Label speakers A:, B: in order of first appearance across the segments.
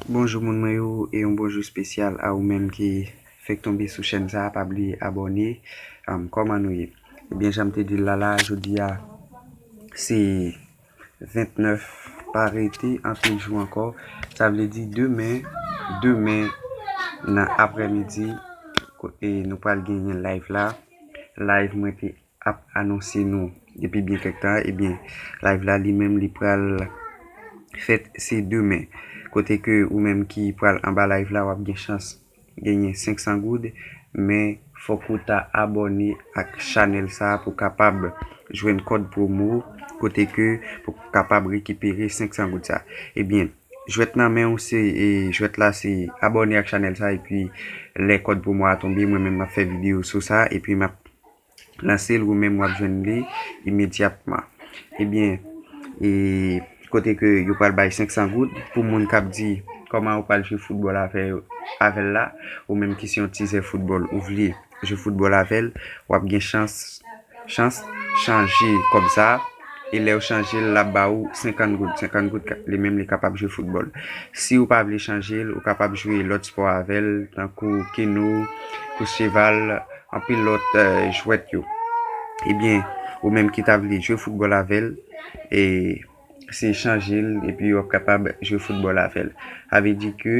A: Bonjou moun mwen yo e yon bonjou spesyal a ou menm ki fek tonbe sou chèn sa pa bliye abòne kòman nou ye ebyen janm te dil la la jodia se 29 pa rete anpil jou ankò sa vle di demen demen nan aprè midi nou pral genyen live la live mwen te ap anonse nou depi byen kèk tan ebyen live la li menm li pral fèt se demen kote ke ou menm ki pral anba live la wap gen chans genyen 500 goud men fòk ou ta abòne ak chanèl sa pou kapab jwenn kòd promo kote ke pou kapab rekipere 500 goud sa ebyen jwèt nan men ou se jwèt la se abòne ak chanèl sa epi lè kòd promo a tonbe mwen menm map fè video sou sa epi map. nan se l ou menm w ap jwenn li imedyatman. Ebyen, e kote ke yo pral bay 500 goud pou moun k ap di kòman yo pral jwe foutbòl avè l la, ou menm ki se yon tizè foutbòl ou vle jwe foutbòl avè l, w ap gen chans chans chanje kòb sa a. E lè ou chanje l, l ap ba ou 50 goud. 50 goud li menm li kapab jwe foutbòl. Si ou pa vle chanje l, ou kapab jwe lòt spò avè l tankou keno, kous cheval. Anpil lòt jwèt yo. Ebyen ou menm ki ta vle jwe foutbòl avèl e se chanje l epi wap kapab jwe foutbòl avèl. Sa vle di ke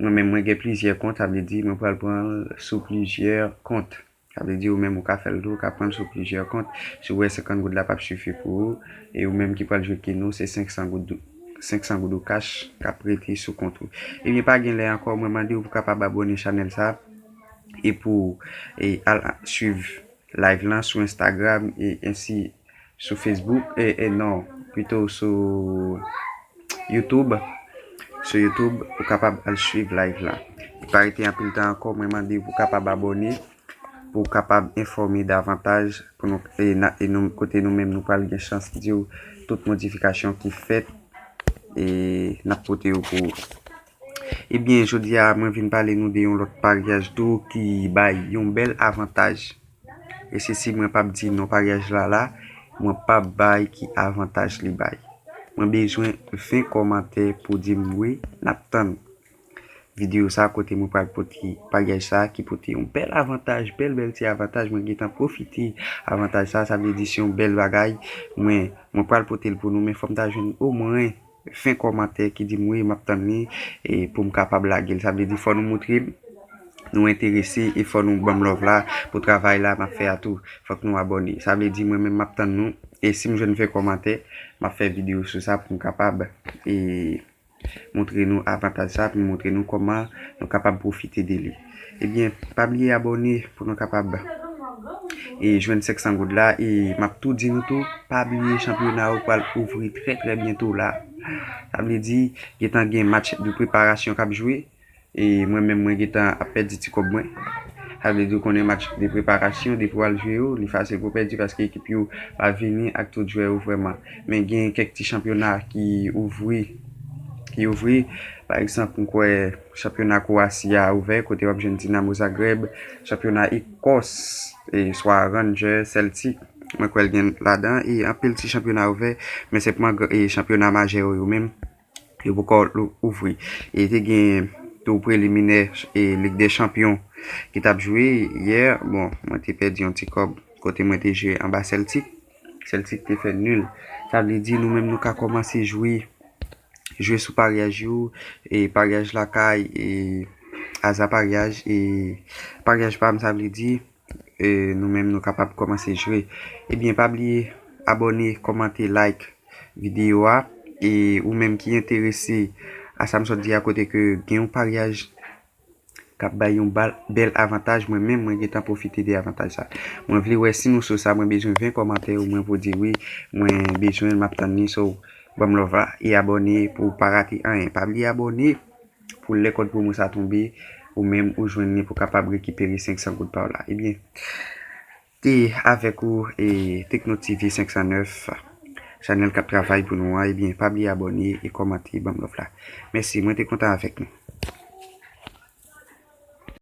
A: mwen menm mwen gen plizyè kont sa vle di mwen pral pran l sou plizyè kont. Sa vle di ou menm ou ka fèl tou ou ka pranl sou plizyè kont. Si ou wè 50 goud la pap sifi pou ou e ou menm ki pral jwe keno se 500 goud 500 goud ou kach kap rete sou kont ou. Ebyen pa gen lè ankò mwen mandew pou kapab abòne chanèl sa. e pou al swiv live lan sou Instagram e ensi sou Facebook e non pito sou YouTube sou YouTube ou kapab al swiv live lan e pa rete anpil tan ankò mwen mande pou kapab abone pou kapab enfòme davantaj pou nou e nou kote nou menm nou pral gen chans diw tout modifikasyon ki fèt e nap pote yo pou ou. Ebyen jodi a mwen vin pale nou de yon lòt paryaj tou ki bay yon bèl avantaj e se si mwen pap di non paryaj la la mwen pap bay ki avantaj li bay mwen bezwen 20 kòmantè pou di m wi nap tann videyo sa kote mwen pral pote paryaj sa ki pote yon bèl avantaj bèl bèl ti avantaj mwen gen tan pwofite avantaj sa sa vle di se yon bèl bagay mwen mwen pral pote l pou nou men fòm ta jwenn omwen. Fen kòmantè ki dim wi map tann li e poum kapab lagel sa vle di fò nou moutre nou enterese e fò nou banm love la pou travay la map fè a tou fòk nou abòne sa vle di mwen menm map tann nou e sim jwenn fen kòmantè map fè video sou sa poum kapab e moutre nou avantaj sa poum moutre nou kòman nou kapab pwofite de li. Ebyen pa bliye abòne pou nou kapab e jwenn 500 goud la e map tou di nou tou pa bliye chanpyona yo pral ouvri trè trè byento la sa vle di gentan gen match de preparasyon kap jwe e mwen menm mwen gentan ap pèdi ti kòb mwen sa vle di ou konnen match de preparasyon depi wal jwe yo li fasil pou pèdi paske ekip yo pa vini ak tout jwè yo vrèman men gen kèk ti chanpyona ki ouvri ki ouvri pa egzanp m kwè. Chanpyona Kwowasi a ouvè kote w ap jwenn Dinamo Zagreb, chanpyona Ekòs, swa Rangers, Celtic, mwen kwè l gen ladan e anpil ti chanpyona ouvè men senpman chanpyona majè yo yo menm yo poko ouvri. E te gen tou preliminè Lig dè Chanpyon ki t ap jwe yè, bon mwen te pèdi yon ti kòb kote mwen te jwe anba Celtic, Celtic te fè nil sa vle di nou menm nou ka kòmanse jwe. jwe sou paryaj yo, paryaj lakay, aza paryaj, e paryaj pa m sa vle di nou menm nou kapab kòmanse jwe. Ebyen pa bliye abòne, kòmante, like videyo a. E ou menm ki enterese a sa m sot di a kote ke gen yon paryaj. kap bay yon bèl avantaj mwen menm mwen gentan pwofite de avantaj sa mwen vle wè si nou sou sa mwen bezwen 20 kòmantè ou mwen pou di wi mwen bezwenl map tann li so banm love la e abòne pouw pa rate anyen pa bliye abòne pou lè kòd pwomo sa tonbe ou menm ou jwenn li pou kapab rekipere 500 goud paw la ebyen. E avèk ou e Tekno TV 509 Chanèl kap travay pou nou an ebyen pa bliye abòne e kòmante banm love la mèsi mwen te kontan avèk nou.